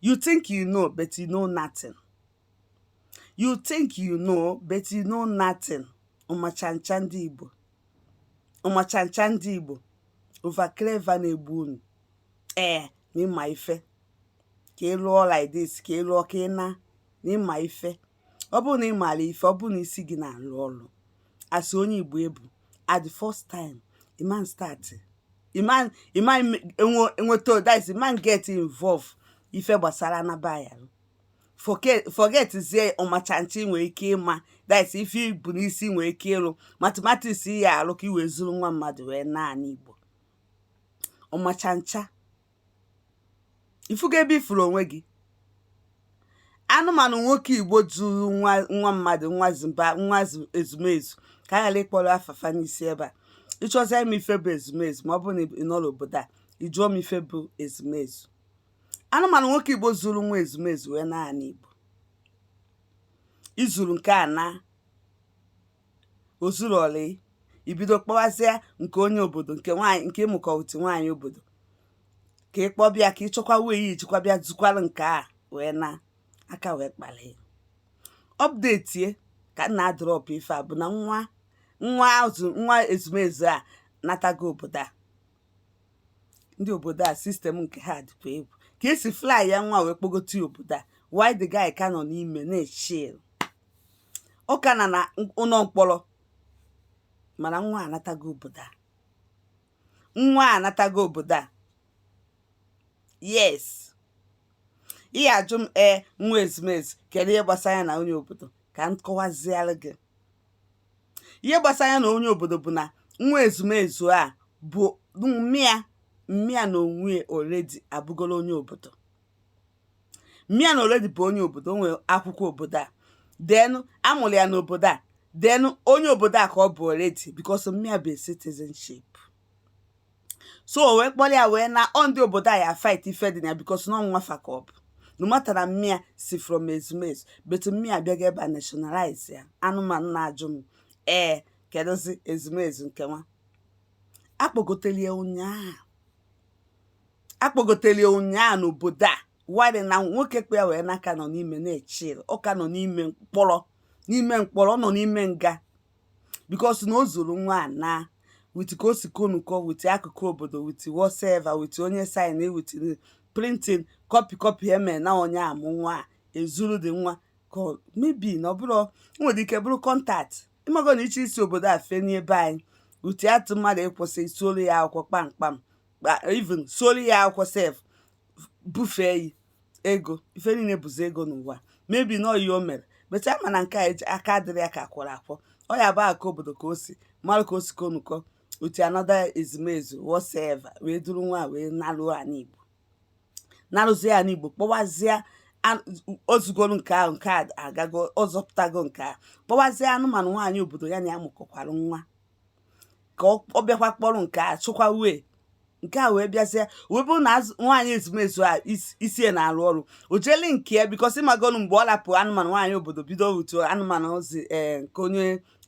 You think you know, but you know nothing. You think you know, but you know nothing. Ọmachancha ndị Igbo. Ọmachancha ndị Igbo. Over clever na-egbu unu. Ee, na ị ma ife. Ka ị lụọ like this, ka ị lụọ ka ị na na ị ma ife. ọ bụrụ na ị maara ife ọ bụrụ na isi gị na-arụ ọrụ as onye igbo ị bụ at the first time ị man start ị man ị man enweta all this ị man get involve ife gbasara anaba ya forget zie ọmachancha i nwere ike ịma this ife i bu n'isi nwere ike ịrụ mathematics ị ya-arụ ka i wee zuru nwa mmadụ wee naa anị igbo ọmachancha ị fụgo ebe ị fụrụ onwe gị anụmanụ nwoke igbo zuru nwa nwa mmadụ nwa zimba nwa zu- ezumezu ka a ghara ịkpọrọ afa fa n'isi ebe a ị chọzie ịma ife bụ ezumezu ma ọ bụrụ na ị nọ n'obodo a ị jụọ m ife bụ ezumezu anụmanụ nwoke igbo zuru nwa ezumezu wee naa ana igbo i zuru nke a na o zurọlọ gị i bido kpọwazịa nke onye obodo nke nwaanyị nke ịmụkọ utu nwaanyị obodo ka ị kpọbịa ka ị chọkwa were ya i jikwa bịa zukwara nke a wee na aka wee kpali update ka m na-adrop ife a bụ na nwa nwa azụ nwa ezumezu anatago obodo a ndị obodo a system nke ha dịkwa egwu ka e si fly ya nwa wee kpọgote ya obodo a while the guy ka nọ n'ime na-echill ọ ka nọ n'ụlọ mkpọrọ mana nwa anatago obodo a nwa anatago obodo a yes ị ya-ajụ m ee nwa ezumezu kedu ihe gbasara ya na onye obodo ka m kọwaziere gị ihe gbasara ya na onye obodo bụ na nwa ezumezu a bụ mma ya mma ya n'onwe ya already abụgoro onye obodo mma ya already bụ onye obodo o nwere akwụkwọ obodo a then a mụrụ ya n'obodo a then onye obodo a ka ọ bụ already because mma ya bụ a citizenship so o wee kpọrọ ya wee naa ndị obodo a ya-afight ife dị na ya because na ọ nwa fa ka ọ bụ no matter na mma ya si from ezumezu but mma ya abịago ebe a nationalize ya anụmanụ na-ajụ m ee kedụzi ezumezu nke nwa a kpọgotere ya ụnyaahụ a kpọgotere ya ụnyaa n'obodo a while na nwoke kpọ ya wee naa ka nọ n'ime na-echill ọ ka nọ n'ime mkpọrọ n'ime mkpọrọ ọ nọ n'ime nga because na o zuru nwa a na with ka o si konuko with akwụkwọ obodo with whatsoever with onye sign with printing copy copy e me na onye amụ nwa a ezuru dị nwa ka maybe na ọ bụrụ o nwere ike bụrụ contact ịmago na iche isi obodo a fenie be anyị utu atụ mmadụ ịkwụsị solu ya akwụkwọ kpamkpam even solu ya akwụkwọ sef bufee yi ego ife niile bụzi ego nwa mebi na oyi o mere but ama na nke a eji aka adịrị ya ka kwọrọ akwọ ọ ya bụ aka obodo ka o si mara ka o si konukọ utu anọda ezumezu whosoever wee duru nwa wee naruo anị igbo narụzie ya n'igbo kpọwazie ozugoro nke ahụ nke a agago ọzọpụtago nke a kpọwazie anụmanụ nwaanyị obodo ya na ya mụkọkwara nwa ka ọ bịakwa kpọrọ nke a chụkwa wee nke a wee bịazie wee bụrụ na nwaanyị ezumezu a isie na-arụ ọrụ o jeele nke ya because ịmagonu mgbe ọ lapụ anụmanụ nwaanyị obodo bido otu anụmanụ ozi ee eh, nke onye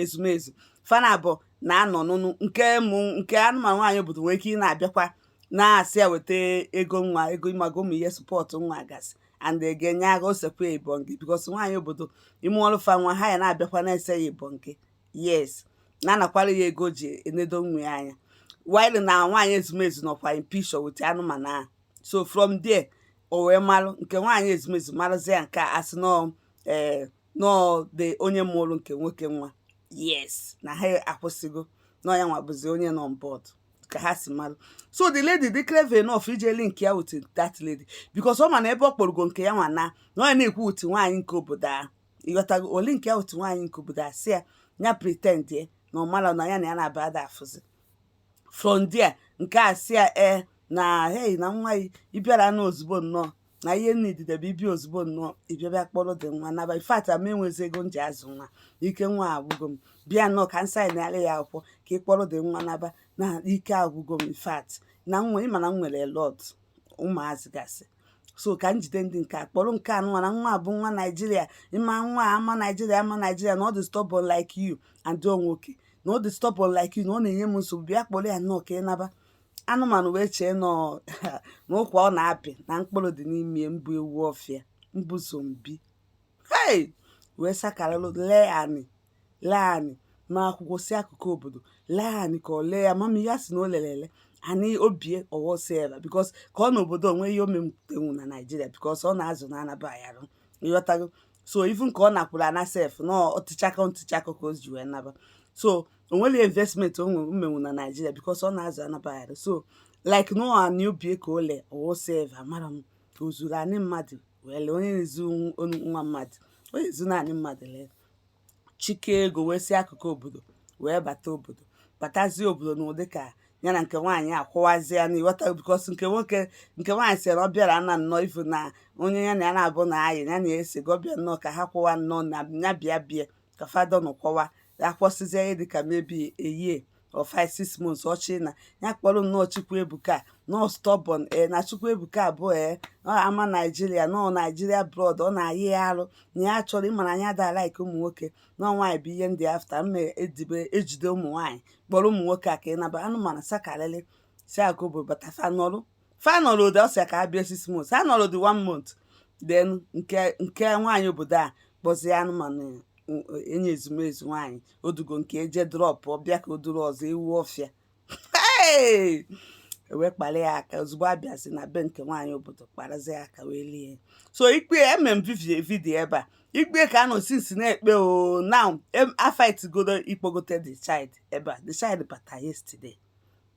ezumezu fana abụọ na-anọ n'ụnọ nke mụ nke anụmanụ nwaanyị obodo nwere ike ị na-abịakwa na-asị ya weta ego nwa ego ịmago ụmụ ihe support nwa gasị and ga-enye aka o sekwa ebonge because nwaanyị obodo ime ọrụ fa nwa ha ya na-abịakwa na-ese ya ebonge yes na-anakwara ya ego ji enedo nwa ya anya while na nwaanyị ezumezu nọkwa in picture with anụmanụ ahụ so from there o wee malụ nke nwaanyị ezumezu marụzi ya nke a asị nọọ ee eh, na ọ dị onye mụrụ nke nwoke nwa yes na ha akwụsịgo na ya nwa bụzi onye nọ on board ka ha si mara so the lady dị clever enough iji link ya with that lady because ọ ma na ebe ọ kpọrọgo nke ya nwa na na ọ ya na-ekwu with nwaanyị nke obodo a ịghọtago o link ya with nwaanyị nke obodo a si ya ya pretendie na ọ mara na ya na ya na-aba ada afụzi from there nke a si ya ee na hei na nwa ịbịara na ozugbo nnọọ na ihe nidide bụ ibi ozugbo nnọọ ị bịa bịa kpọrọ the nwa naba in fact ama enwezi ego m ji azụ nwa ike nwa agwụgo m bịa nnọọ ka m signara ya akwụkwọ ka ị kpọrọ the nwa naba na ike agwụgo m in fact na nwa ịma na m nwere lot ụmụazị gasị so ka m jide ndị nke a kpọrọ nke anụwa na nwa bụ nwa naijiria ịma nwa ama naijiria ama naijiria na ọ dị stubborn like you and nwoke na ọ dị stubborn like you na ọ na-enye m nsogbu bịa kpọrọ ya nnọọ ka ị naba anụmanụ wee chee na ụkwa ọ na-apị na mkpụrụ dị n'ime m bụ ewu ọfịa m bụ zombie hei wee sakaralụ lee anị lee anị ma akwụkwọ si akụkụ obodo lee anị ka ọ lee ya mama ya si na o lelele anị obi e ọghọsi ebe because ka ọ na obodo o nwe ihe o metenwu na naijiria because ọ na-azụ na anaba ayarụ ịghọtago so even ka ọ nakwuru ana sef na ọtịchakọ ntịchakọ ka o ji wee naba so o nwere investment o nwere menwu na naijiria because ọ na-azụ anabagharị so like no anị obi e ka o lee o sef amarọ m ka o zuru anị mmadụ wee lee onye na-ezu nwa mmadụ onye ezu anị mmadụ lee chịkọọ ego wee si akụkụ obodo wee bata obodo batazie obodo n'ụdị ka ya na nke nwaanyị akwụwazi ya ịghọta because nke nwoke nke nwaanyị si na ọ bịara na nnọọ ivu na onye ya na ya na-abụ na ayị ya na-ese gị ọ bịa nnọọ ka ha kwụwa nnọọ na ya bịa bịa ka fada nọ kọwa ya kwụsịzie ihe dịka maybe a year or five six months ọ sị na ya kpọrọ nnọọ Chukwuebuka nọọ stubborn e na Chukwuebuka abụọ e ọ ama Nigeria nọọ Nigeria blood ọ na-ayị ya arụ na ya chọrọ ịmara anya da like ụmụ nwoke nọọ nwaanyị bụ ihe ndị after mma edibe ejide ụmụ nwaanyị kpọrọ ụmụ nwoke a ka ịnaba anụmanụ sakarịrị si agobo batafa nọrụ final order ọ sị ya ka ha bịa six months ha nọrọ dị one month then nke nke nwaanyị obodo a kpọzie anụmanụ enye ezumezu nwaanyị odugo nke eje drop ọ bịa ka o duru ọzọ ewu ọfịa Hey! ewee kpara ya aka ozugbo a bịazi na be nke nwaanyị obodo kparazi ya aka wee lie ya. so ikpe ya eme m vivi- video ebe a ikpe ka a nọ since na-ekpe o now em- a fight godo ịkpọgote the child ebe a the child bata yesterday